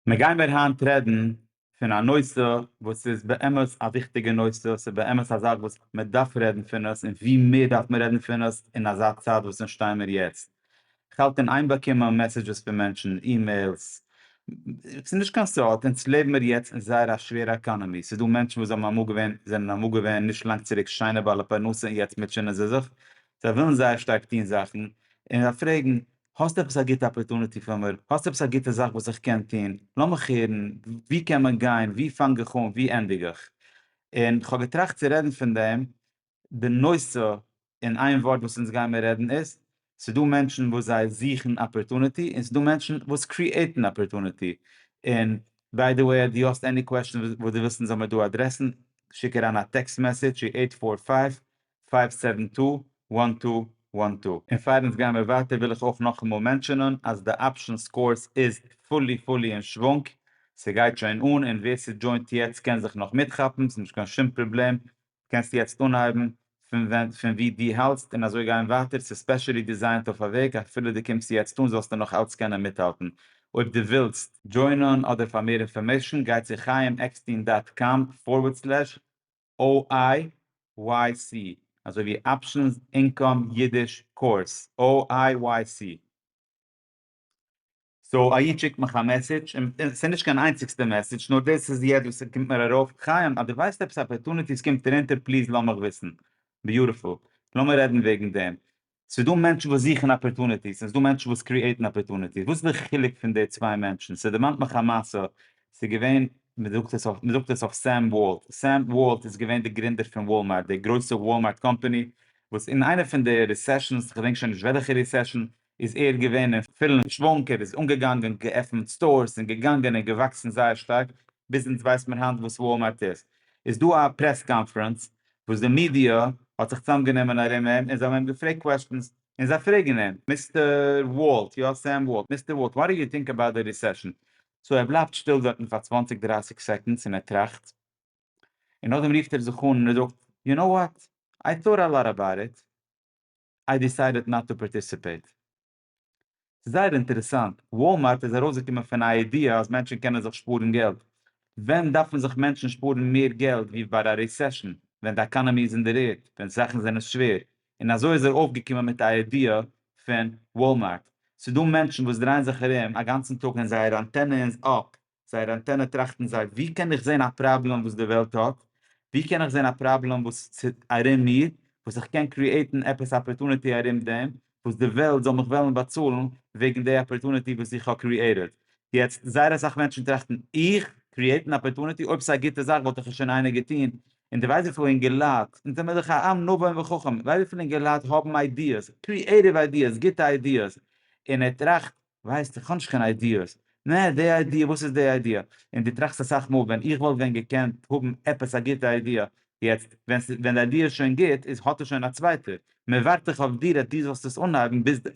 מיר גיימער היינט רעדן פון א נושא וואס איז באמת א וויכטיגע נושא, ס'איז באמת א זאך וואס מען דארף רעדן פון עס, און ווי מער דארף מען רעדן פון עס אין אזא צייט וואס אונז שטייען מיר יעצט. כ'האלט אין איין באקומען מעסעדזשעס פון מענטשן, אימעילס, ס'איז נישט קיין סוד, אונז לעבן מיר יעצט אין זייער א שווערע עקאנאמי, ס'איז דא מענטשן וואס האבן אמאל געווען, זענען אמאל געווען נישט לאנג צוריק שיינע בעלי פרנסה און יעצט מוטשענען זיי זיך, זיי ווילן זייער שטארק טון זאכן, און זיי פרעגן האסט עפעס א גוטע אפערטוניטי פאר מיר? האסט עפעס א גוטע זאך וואס איך קען טון? לאמיך הערן, וואו קען מען גיין? וואו פאנג איך אן? וואו ענדיג איך? און כ'האב געטראכט צו רעדן פון דעם, די נושא אין איין ווארט וואס אונז גיימער רעדן איז, ס'דא מענטשן וואס זיי זוכן אפערטוניטי, און ס'דא מענטשן וואס קריעטן אפערטוניטי, און ביי די וועי אז דו האסט עני קוועשאן וואס דו ווילסט אונז זאל מיר דא אדרעסן, שיק אריין א טעקסט מעסעדזש צו אייט פאר פייוו פייוו סעווען טו וואן טו וואן טו. און פאר אונז גיימער ווייטער וויל איך אויך נאכאמאל מענטשענען אז די אפשען סקאורס איז פולי פולי אין שוואונג, ס'גייט שוין אן און ווער ס'דזשוינט יעצט קען זיך נאך מיטכאפן, ס'איז נישט קיין שום פראבלעם, קענסט יעצט אנהייבן פון ווען פון ווי דו האלטסט און אזוי גיין ווייטער, ס'איז ספעשעלי דיזיינט אויף א וועג אפילו דו קומסט יעצט אן זאלסטו נאך אלץ קענען מיטהאלטן אויב דו ווילסט. דזשוינען אדער פאר מער אינפארמעישן גייט צו חיים עקסטין דאט קאם פארווערד סלעש OIYC, אזוי ווי אפשענס אינקאם אידיש קורס, OIYC. סאו א איד שיקט מיך א מעסעדזש, און ס'איז נישט קיין איינציגסטע מעסעדזש, נאר דאס איז יעצט וואס ס'קומט מיר ארויף, חיים אז דו ווייסט עפעס אפערטוניטיס קומט ארונטער פליז לאמיך וויסן, ביוטיפול, לאמיר רעדן וועגן דעם, ס'איז דא מענטשן וואס זוכן אפערטוניטיס און ס'איז דא מענטשן וואס קריעטן אפערטוניטיס, וואס איז די חילוק פון די צוויי מענטשן? ס'דערמאנט מיך א מעשה, ס'איז געווען, מ'זאגט עס אויף, מ'זאגט עס אויף סעם וואלט, סעם וואלט איז געווען די גרינדער פון וואלמארט, די גרויסע וואלמארט קאמפאני, וואס אין איינע פון די רעסעשאנס, כ'געדענק שוין נישט וועלכע רעסעשאן, איז ער געווען אין פולן שוואונג, ער איז אנגעגאנגען, געעפנט סטארס און געגאנגען און געוואקסן זייער שטארק, ביז אונז ווייסט מען היינט וואס וואלמארט איז. איז דא א פרעס קאנפרענץ, וואס די מידיא האט זיך צוזאמגענומען ארום אים און זיי האבן אים געפרעגט קוועסטשענס, און זיי פרעגן אים, מיסטער וואלט, יא סעם וואלט, מיסטער וואלט, וואט דו יו טינק אבאוט די ריסעשען? סאו ער בלייבט שטיל דארטן פאר צוואנציג דרייסיג סעקאנדס און ער טראכט, און נאכדעם רופט ער זיך אן און ער זאגט, יו קנאו וואט, איי טאוט א לאט אבאוט איט, איי דיסיידעד נאט טו פארטיסיפעיט. זייער אינטערעסאנט, וואלמארט איז ארויסגעקומען פון א איידיע אז מענטשן קענען זיך שפארן געלט. ווען דארפן זיך מענטשן שפארן מער געלט ווי ביי א רעסעשן, ווען די עקאנאמי איז אין די רער, ווען זאכן זענען שווער, און אזוי איז ער אויפגעקומען מיט א איידיע פון וואלמארט. ס'דא מענטשן וואס דרייען זיך ארום א גאנצן טאג און זייער אנטענע איז אפ, זייער אנטענע טראכטן זיי ווי קען איך זען א פראבלעם וואס די וועלט האט, ווי קען איך זען א פראבלעם וואס ס'איז ארום מיר, וואס איך קען קריעטן עפעס אפערטוניטי ארום דעם, וואס די וועלט זאל מיך וועלן באצאלן וועגן די אפערטוניטי וואס איך האב קריעטעד. יעצט, זייער אסאך מענטשן טראכטן, איך? קריעטן אפערטוניטי? אויב ס'איז א גוטע זאך וואלט איך עס שוין איינער געטון. און די ווייסט וויפיל אינגעלייט, אונז זעמיר דאך א עם נבון וחכם, ווייסט וויפיל אינגעלייט האבן איידיעס, קריעטיוו איידיעס, גוטע איידיעס, און ער טראכט, ווייסט איך האב נישט קיין איידיעס. נע, די איידיע, וואס איז די איידיע? און דו טראכסט אסאך מאל ווען איך וואלט ווען געקענט האבן עפעס א גוטע איידיע. יעצט, ווען די איידיע איז שוין גוט, איז האט עס שוין א צווייטער. מען ווארט דאך אויף דיר אז דו זאלסט עס אנהייבן ביז די.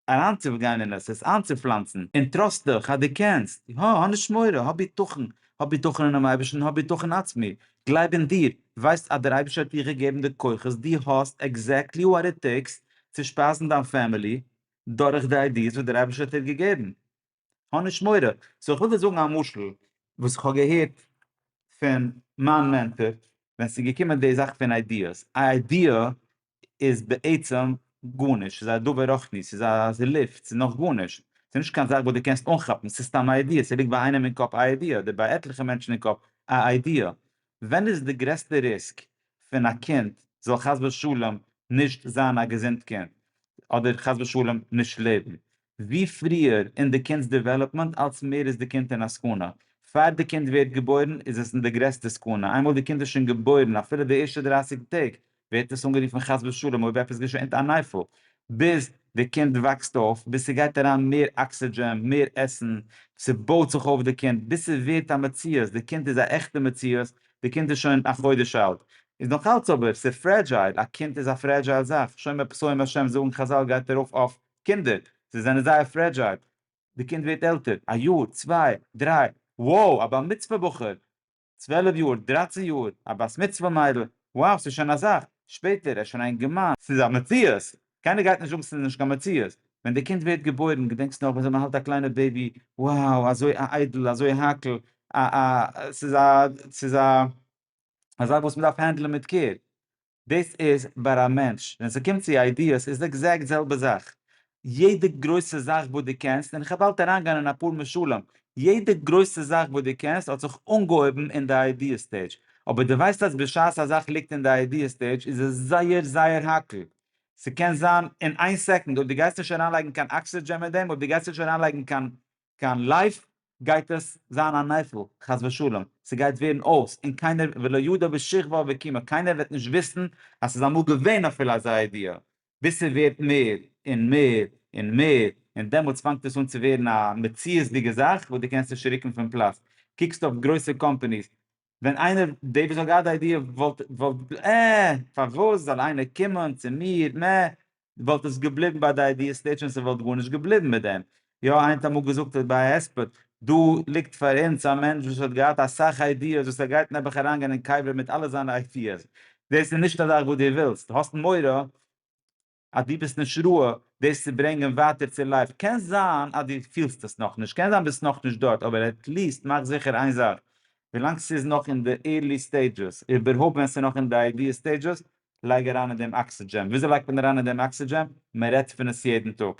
אריינצוגיין אין עס, עס איינצופלאנצן. און טראסט דיך אז דו קענסט. הא, האב נישט מורא, האב ביטחון. האב ביטחון אינעם אייבערשטן, האב ביטחון אין עצמי. גלייב אין דיר. ווייסט אז דער אייבערשטער האט דיר געגעבן די כוחות, דו האסט עקזעקטלי וואט איט טעיקס צו שפייזן דיין פעמילי, דורך די איידיעס וואס דער אייבערשטער האט איר געגעבן. האב נישט מורא. סאו איך וויל דיר זאגן א משל וואס איך האב געהערט פון מיין מענטאר ווען ס'איז געקומען די זאך פון איידיעס. א איידיע איז בעצם גארנישט, ס'איז א דבר רוחני, ס'איז א ס'איז לופט, ס'איז נאך גארנישט. ס'איז נישט קיין זאך וואס דו קענסט אנכאפן, ס'איז סתם א איידיע, ס'ליגט ביי איינעם אין קאפ א איידיע, אדער ביי עטליכע מענטשן אין קאפ א איידיע. ווען איז די גרעסטע ריסק פון א קינד זאל חס ושלום נישט זיין א געזונט קינד, אדער חס ושלום נישט לעבן? ווי פריער אין די קינד'ס דעוועלאפמענט אלס מער איז די קינד אין א סכנה. פאר די קינד ווערט געבוירן איז עס אין די גרעסטע סכנה, איינמאל די קינד איז שוין געבוירן אפילו די ערשטע דרייסיג טעג ווערט עס אנגערופן חס ושלום אויב עפעס געשענט א נייפל, ביז די קינד וואקסט אויף, ביז ס'גייט אריין מער אקסידזשען, מער עסן, ס'בויט זיך אויף די קינד, ביז ס'ווערט א מציאות, די קינד איז א עכטע מציאות, די קינד איז שוין א חודש אלט, איז נאך אלץ אבער ס'איז פרעדזשייל, א קינד איז א פרעדזשייל זאך, שומר פסועים השם זאגן חזל גייט ארויף אויף קינדער, זיי זענען זייער פרעדזשייל, די קינד ווערט עלטער, א יאר, צוויי, דריי, wow, א בר מצוה בחור, צוועלף יאר, דרייצן יאר, א בת מצוה מיידל, wow ס'איז שוין א זאך, שפעטער ער איז שוין א אינגערמאן, ס'איז א מציאות, קיינער גייט נישט זאגן ס'איז נישט קיין מציאות, ווען די קינד ווערט געבוירן, געדענקסט נאך וויאזוי מ'האלט א קליינע בעיבי, wow אזוי א איידל, אזוי האקל, א א ס'איז א ס'איז א זאך וואס מ'דארף הענדלען מיט קעיר, דאס איז ביי א מענטש, ווען ס'קומט צו איידיעס איז עקזעקט זעלבע זאך, יעדע גרויסע זאך וואס דו קענסט, און איך וועל באלד אריינגיין אין אפאר משלים, יעדע גרויסע זאך וואס דו קענסט האט זיך אנגעהויבן אין די איידיע סטעידזש, אבער דו ווייסט אז בשעת א זאך ליגט אין די איידיע סטעידזש איז עס זייער זייער האקל, ס'קען זיין אין איין סעקונד, אויב דו גייסט נישט אריינלייגן קיין אקסידזשען מיט דעם, אויב דו גייסט נישט אריינלייגן קיין קיין לייף גייט עס זיין א נפל, חס ושלום, ס'גייט ווערן אויס, און קיינער ולא ידע בשכבה ובקימה, קיינער וועט נישט וויסן אז ס'איז אמאל געווען אפילו אזא איידיע, ביז ס'ווערט מער און מער און מער, און דעמאלטס פאנגט עס אן צו ווערן א מציאות'דיגע זאך וואס דו קענסט נישט רוקן פון פלאץ, קוקסט אויף גרויסע קאמפאניס, ווען איינער דעי וואס האט געהאט די איידיע וואלט וואלט אה פארוואס זאל איינער קומען צו מיר מ וואלט עס געבליבן ביי די איידיע ס'טייטש שוין ס'וואלט גארנישט געבליבן מיט דעם יא איינער האט אמאל געזאגט ביי א הספד דא ליגט פאר אונז א מענטש וואס האט געהאט אסאך איידיעס וואס ער גייט נעבעך אריינגיין אין קבר מיט אלע זיינע איידיעס דאס איז נישט א זאך וואס דו ווילסט האסט מורא אז דו ביסט נישט רואה דאס צו ברענגען ווייטער צו לייוו, קען זיין אז דו פילסט עס נאכנישט, קען זיין ביסט נאכנישט דארט, אבער עטליעסט מאך זיכער איין זאך, ווילאנג ס'איז נאך אין די עירלי סטעידשעס, איבערהויפט ווען ס'נאך אין די איידיע סטעידשעס, לייג אריין אין דעם אקסידזשען, וויאזוי לייגט מען אריין אין דעם אקסידזשען? מ'רעדט פון עס יעדן טאג.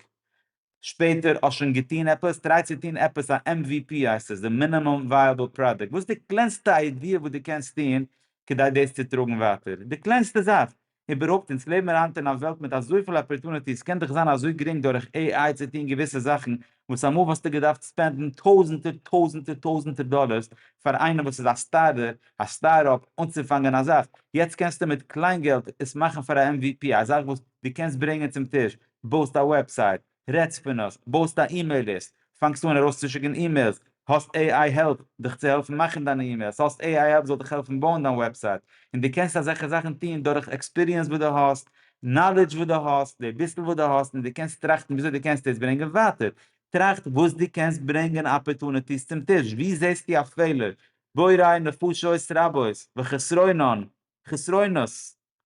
שפעטער האסט שוין געטון עפעס? טריי צו טון עפעס א MVP הייסט עס, די מינימום ווייעבל פראדוקט, וואס די קלענסטע איידיע וואס די קענסט טון כדי דאס צו טראגן ווייטער, די קלענסטע זאך. איבערהויפט אונז לעבן מיר היינט אין א וועלט מיט אזויפיל אפערטוניטיס, סקען דאך זיין אזוי גרינג דורך AI צו טון געוויסע זאכן וואס אמאל וואלסטו געדארפט ספענדן טויזענטער טויזענטער טויזענטער דאלערס פאר איינעם וואס איז א סטארטער, א סטארט-אפ, אנצופאנגען א זאך, יעצט קענסטו מיט קליין געלט עס מאכן פאר א MVP, א זאך וואס די קענסט ברענגען צום טיש, בויסט א וועבסייט, רעדסט פון עס, בויסט א אימעיל ליסט, פאנגסט אן ארויסצושיקן אימעילס, האסט עי איי העלפ דיך צו העלפן מאכן דיינע אימעילס, האסט עי איי העלפ זאל דיך העלפן בויען דיין וועבסייט, און דו קענסט אזעלכע זאכן טון דורך עקספיריענס וואס דו האסט, נאלידזש וואס דו האסט, די ביסל וואס דו האסט, און דו קענסט טראכטן וויאזוי דו קענסט עס ברענגען ווייטער. טראכט וואס דו קענסט ברענגען אפערטוניטיס צום טיש, וואו זעסטו א פעלער, בוראי נפשות רבות, וחסרונן, חסרונות,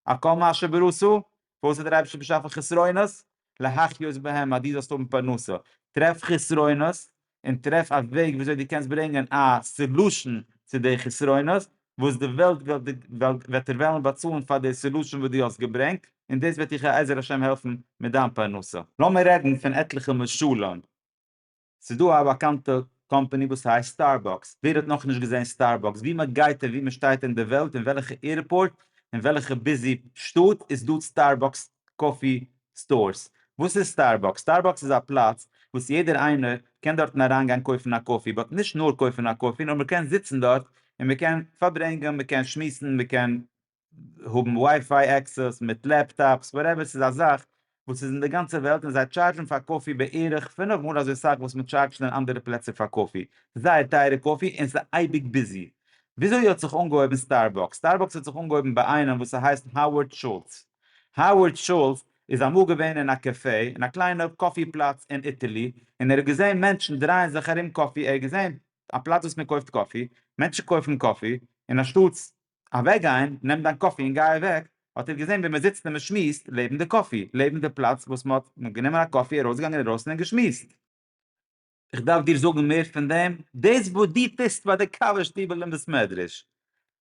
על כל מה שברצו, וואס האט דער אייבערשטער באשאפן חסרונות? להחיות בהם אז דו זאלסט האבן פרנסה, טרעף חסרונות און טרעף א וועג וויאזוי דו קענסט ברענגען א סעלושען צו די חסרונות, וואס די וועלט וועט דיר וועלן באצאלן פאר די סעלושען וואס דו האסט געברענגט, און דאס וועט דיך בעזר השם העלפן מיט דיין פרנסה. לאמיר רעדן פון עטליכע משלים. ס'איז דא א באקאנטע קאמפעני וואס הייסט סטארבאקס, ווער האט נאכנישט געזען סטארבאקס? ווי מען גייט און ווי מען שטייט אין די וועלט, אין וועלכע עירפארט, אין וועלכע ביזי שטאט, איז דא סטארבאקס קאפי סטארס. וואס איז סטארבאקס? סטארבאקס איז א פלאץ וואס יעדער איינער קען דארטן אריינגיין קויפן א קאפי, באט נישט נאר קויפן א קאפי, נאר מען קען זיצן דארט און מען קען פארברענגען, מען קען שמועסן, מען קען האבן ווייפיי עקסעס מיט לעפטאפס וואטעווער ס'איז א זאך וואס איז אין די גאנצע וועלט און זיי טשארדזשן פאר קאפי בערך פֿינף מאל אזוי סאך וואס מ'טשארדזשט אין אנדערע פלעצער פאר קאפי, זייער טייערע קאפי און ס'איז אייביג ביזי. וויאזוי האט זיך אנגעהויבן סטארבאקס? סטארבאקס האט זיך אנגעהויבן ביי איינעם וואס ס'הייסט האווארד שולץ. האווארד שולץ איז אמאל געווען אין א קעפע, אין א קליינע קאפי פלאץ אין איטעלי, און ער האט געזען מענטשן דרייען זיך ארום קאפי, ער האט געזען א פלאץ וואס מ'קויפט קאפי, מענטשן קויפן קאפי, און אנשטאטס אוועקגיין, נעם דיין קאפי און גיי אוועק, האט ער געזען ווי מען זיצט און מען שמועסט לעבן די קאפי, לעבן די פלאץ וואס מען האט גענומען א קאפי, ארויסגעגאנגען אינדרויסן און געשמועסט. איך דארף דיר זאגן מער פון דעם? דאס וואס דו טוסט ביי די קאווע שטיבל און בית מדרש,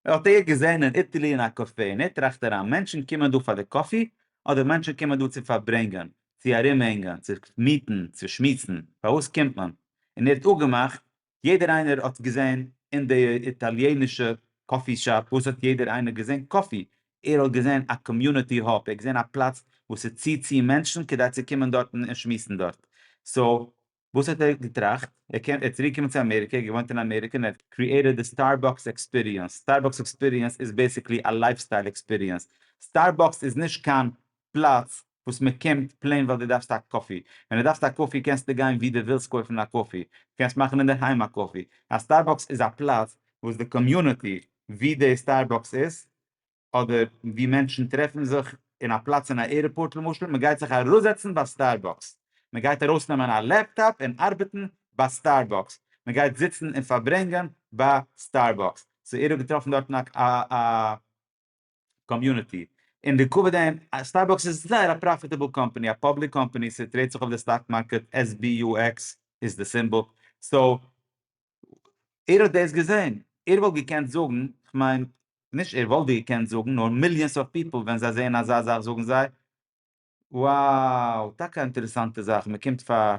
האט ער געזען אין איטעלי אין א קאפע, און ער טראכט אריין, מענטשן קומען דא פאר די קאפי, אדער מענטשן קומען דא צו פארברענגען, צו ארומהענגען, צו מיטן, צו שמועסן, פארוואס קומט מען? און ער האט אפגעמאכט יעדער איינער האט געזען אין די איטאליענישע קאפי שאפ וואס האט יעדער איינער געזען קאפי, ער האט געזען א קאמיוניטי האב, ער האט געזען א פלאץ וואס עס ציט צו מענטשן כדי צו קומען דארטן און שמועסן דארט, סאו וואס האט ער געטראכט? ער קען ער איז צוריק געקומען צו אמעריקע, ער האט געוואוינט אין אמעריקע און ער האט קריעטעד די סטארבאקס עקספיריענס, סטארבאקס עקספיריענס איז בעסיקלי א לייפסטייל עקספיריענס, סטארבאקס איז נישט קיין פלאץ וואס מען קומט פלעין ווייל דו דארפסט א קאפי, ווען דו דארפסט א קאפי קענסטו גיין וואו דו ווילסט קויפן א קאפי, דו קענסט מאכן אינדערהיים א קאפי, א סטארבאקס איז א פלאץ וואס די קאמיוניטי וואו די סטארבאקס איז, אדער וואו מענטשן טרעפן זיך אין א פלאץ אין א עירפארט למשל, מען גייט זיך אראפזעצן ביי סטארבאקס, מען גייט ארויסנעמען א לעפטאפ און ארבעטן ביי סטארבאקס, מען גייט זיצן און פארברענגען ביי סטארבאקס, סאו ער האט געטראפן דארטן א. קאמיוניטי, און די כבוד אים, סטארבאקס איז זייער א פראפיטעבל קאמפאני, א פאבליק קאמפאני, ס'טרעיד זיך אויף די סטאק מארקעט, SBUX איז די סימבאל, סאו ער האט דאס געזען, ער וואלט געקענט זאגן, כ'מיין, נישט ער וואלט געקענט זאגן, נאר מיליאנס אוו פיפל ווען זיי זעען אזא זאך זאגן זיי, וואו! טאקע א אינטערעסאנטע זאך, מען קומט פאר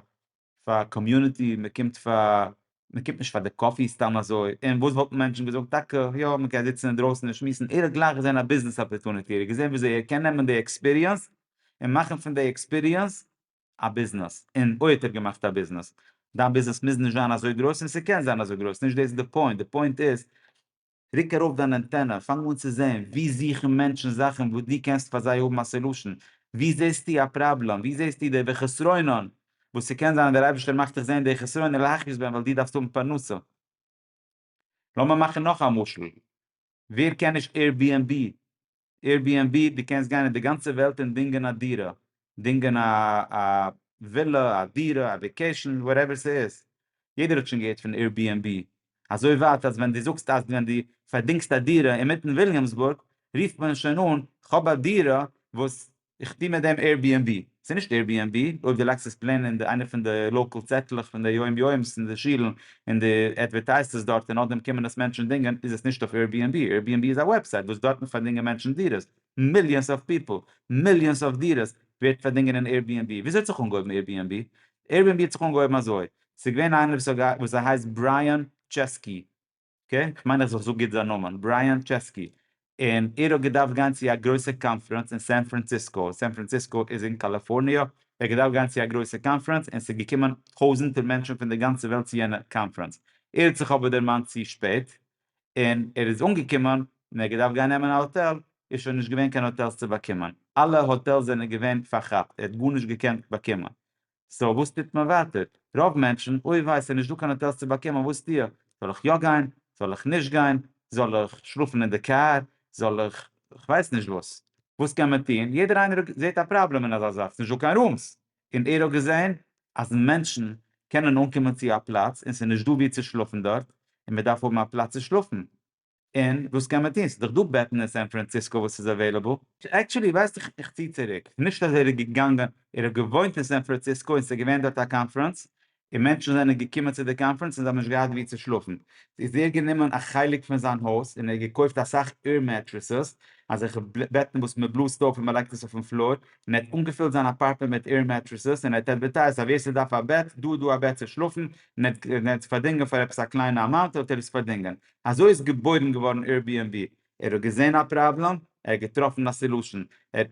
פאר קאמיוניטי, מען קומט פאר, מען קומט נישט פאר די קאפי סתם אזוי, און וואס וואלטן מענטשן געזאגט, טאקע יא מען קען זיצן אינדרויסן און שמועסן, ער האט גלייך געזען א ביזנעס אפערטוניטי, ער האט געזען וויאזוי ער קען נעמען די עקספיריענס און מאכן פון די עקספיריענס א ביזנעס, און אוי האט ער געמאכט א ביזנעס, דיין ביזנעס מוז נישט זיין אזוי גרויס און ס'קען זיין אזוי גרויס, נישט דאס איז די פוינט, די פוינט איז רוק ארויף דיין אנטענע, פאנג אן צו זען וואו זוכן מענטשן זאכן וואס דו קענסט פאר זיי האבן א סעלושן, וואו זעסטו א פראבלעם, וואו זעסטו די וחסרונן, וואס ס'קען זיין אז דער אייבערשטער מאכט דיך זען די חסרונן להכעיס בהם ווייל דו דארפסט האבן פרנסה. לאמיר מאכן נאך א משל, ווער קען נישט עיר-בי-ענד-בי? Airbnb, דו קענסט גיין אין די גאנצע וועלט און דינגען א דירה, דינגען א ווילע, א דירה, א וועקעישאן, וואטעווער ס'איז. יעדער האט שוין געהערט פון Airbnb. אזוי ווייט אז ווען דו זאגסט אז ווען דו פארדינגסט א דירה אינמיטן וויליאמסבורג, רופט מען שוין אן, כ'האב א דירה וואס איך טוה מיט דעם עירביענבי, ס'איז נישט עירביענבי, אויב דו לייגסט עס פלעין אין די איינע פון די לאקאל צעטלעך פון די יום יום'ס אין די שולן און דו עדווערטייזסט עס דארט און נאכדעם קומען עס מענטשן דינגען איז עס נישט אויף עירביענבי, עירביענבי איז א וועבסייט וואס דארטן פארדינגען מענטשן דירות, מיליאנס אוו פיפל, מיליאנס אוו דירות ווערט פארדינגען אין עירביענבי, וויאזוי האט זיך אנגעהויבן עירביענבי? עירביענבי האט זיך אנגעהויבן אזוי, ס'איז געווען איינער וואס ס'הייסט ברייען טשעסקי, אקעי, כ'מיין אז איך זאג גוט זיין נאמען, ברייאן טשעסקי, און ער האט געדארפט גיין צו א גרויסע קאנפרענץ אין סען פראנציסקא, סען פראנציסקא איז אין קאליפארניע, ער האט געדארפט גיין צו א גרויסע קאנפרענץ און ס'איז געקומען טויזענטער מענטשן פון די גאנצע וועלט צו יענע קאנפרענץ, ער האט זיך אבער דערמאנט צו שפעט, און ער איז אנגעקומען, און ער האט געדארפט גיין נעמען א האטעל, איז שוין נישט געווען קיין האטעלס צו באקומען, אלע האטעלס זענען געווען פארכאפט, ער האט גארנישט געקענט באקומען, סאו וואס טוט מען ווייטער? רוב מענטשן, אוי וויי ס'איז נישט דא קיין האטעלס צו באקומען וואס טו איך? זאל איך יא גיין? זאל איך נישט גיין? זאל איך שלאפן אין די קאר? זאל איך כ'ווייס נישט וואס? וואס קען מען טון? יעדער איינער זעהט א פראבלעם אין אזא זאך, ס'נישט דא קיין רומס. און ער האט געזעהן אז מענטשן קענען אנקומען צו א פלאץ און ס'נישט דא ווי צו שלאפן דארט, און מ'דארף האבן א פלאץ צו שלאפן. און וואס קען מען טון? ס'איז דאך דא בעטן אין סען פראנציסקא וואס איז אוועילעבל. עקטשעלי ווייסט איך איך צי צוריק נישט אז ער איז געגאנגען ער האט געוואוינט אין סען פראנציסקא און ס'איז געווען דארט א קאנפרענס און מענטשן זענען געקומען צו די קאנפרענס און זיי האבן נישט געהאט ווי צו שלאפן איז ער גענומען א חלק פון זיין הויז און ער האט געקויפט אסאך עיר מעטרעסעס אזעלכע בעטן וואס מען בלאזט אויף און מען לייגט עס אויפן פלאר און ער האט אנגעפילט זיין אפארטמענט מיט עיר מעטרעסעס און ער האט אדווערטייזט אז ווער ס'דארף א בעט דא איז דא א בעט צו שלאפן און ער האט עס פארדינגען פאר עפעס א קליינע אמאונט האט ער עס פארדינגען אזוי איז געבוירן געווארן עירביענבי, ער האט געזען א פראבלעם, ער האט געטראפן א סעלושען,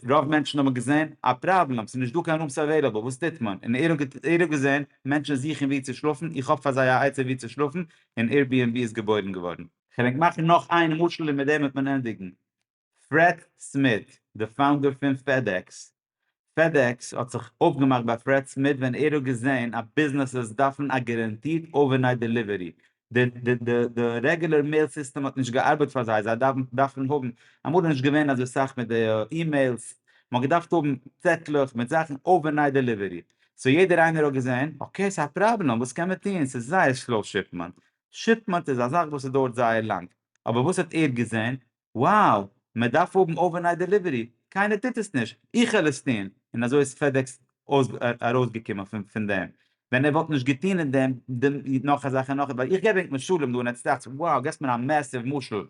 רוב מענטשן האבן געזען א פראבלעם, ס'איז נישט דא קיין רומס עוועילעבל, וואס טוט מען? און ער האט געזען מענטשן זוכן ווי צו שלאפן, איך האב פאר זיי א עצה ווי צו שלאפן, און עירביענבי איז געבוירן געווארן. כ'דענק מאכן נאך איין משל און מיט דעם וועט מען ענדיגן. פרעד סמיט, די פאונדער פון פעדעקס. פעדעקס האט זיך אויפגעמאכט ביי פרעד סמיט ווען ער האט געזען אז ביזנעסעס דארפן א גערענטירט אווערנייט דעליווערי. די רעגולער מעיל סיסטעם האט נישט געארבעט פאר זיי, זיי דארפן האבן, אמאל איז נישט געווען אזוי סאך מיט די אימעילס, מען האט געדארפט האבן צעטלעך מיט זאכן אווערנייט דעליווערי. סאו יעדער איינער האט געזען, אקעי ס'איז א פראבלעם, וואס קען מען טון, ס'איז זייער סלאו שיפמענט. שיפמענט איז א זאך וואס ס'דויערט זייער לאנג. אבער וואס האט ער געזען? wow מען דארף האבן אווערנייט דעליווערי, קיינער טוט עס נישט, איך העל עס טון, און אזוי איז פעדעקס ארויסגעקומען פון דעם, ווען ער וואלט נישט געטון און דעם דעם נאך אזאלכע נאך, ווייל איך געב ענק משלים דא און עטס דאכטס wow געסט מיר א מעסיוו משל,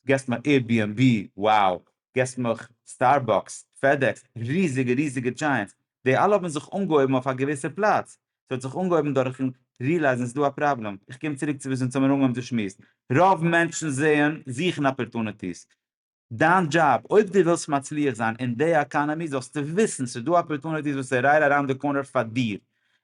געסט מיר עיר בי ענד בי wow געסט מיך סטארבאקס, פעדעקס, ריזיגע ריזיגע דזשייענטס, די אלע האבן זיך אנגעהויבן אויף א געוויסע פלאץ, ס'האט זיך אנגעהויבן דורכן רילייזן ס'איז דא א פראבלעם, איך קום צוריק צו וואס אונז האמיר אנגעהויבן צו שמועסן, רוב מענטשן זעען, זוכן אפערטוניטיס, דיין דזשאב, אויב דו ווילסט מצליח זיין אין די עקאנעמי זאלסטו וויסן ס'איז דא אפערטוניטיס וואס איז רייט אריינד די קארנער פאר דיר,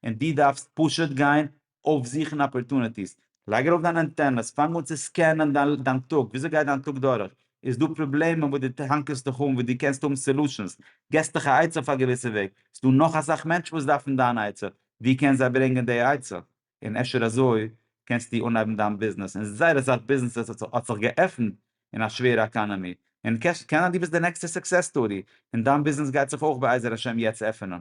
און דו דארפסט פשוט גיין אויפזוכן אפערטוניטיס, לייג ארויף דיינע אנטענעס, פאנג אן צו סקענען דיין טאג, וויאזוי גייט דיין טאג דורך, איז דא פראבלעמען וואס דו האנקערסט דיך אן וואס דו קענסט האבן סעלושענס, געסט דיך א עצה אויף א געוויסע וועג, איז דא נאך אסאך מענטשן וואס דארפן דיין עצה, דו קענסט זיי ברענגען די עצה, און אפשר אזוי קענסטו אנהייבן דיין ביזנעס, און זייער אסאך ביזנעסעס האט זיך געעפנט אין א שווערע עקאנעמי, און קען זיין דו ביסט די נעקסטע סוקסעס סטארי, און דיין ביזנעס גייט זיך אויך בעזר השם יעצט עפענען.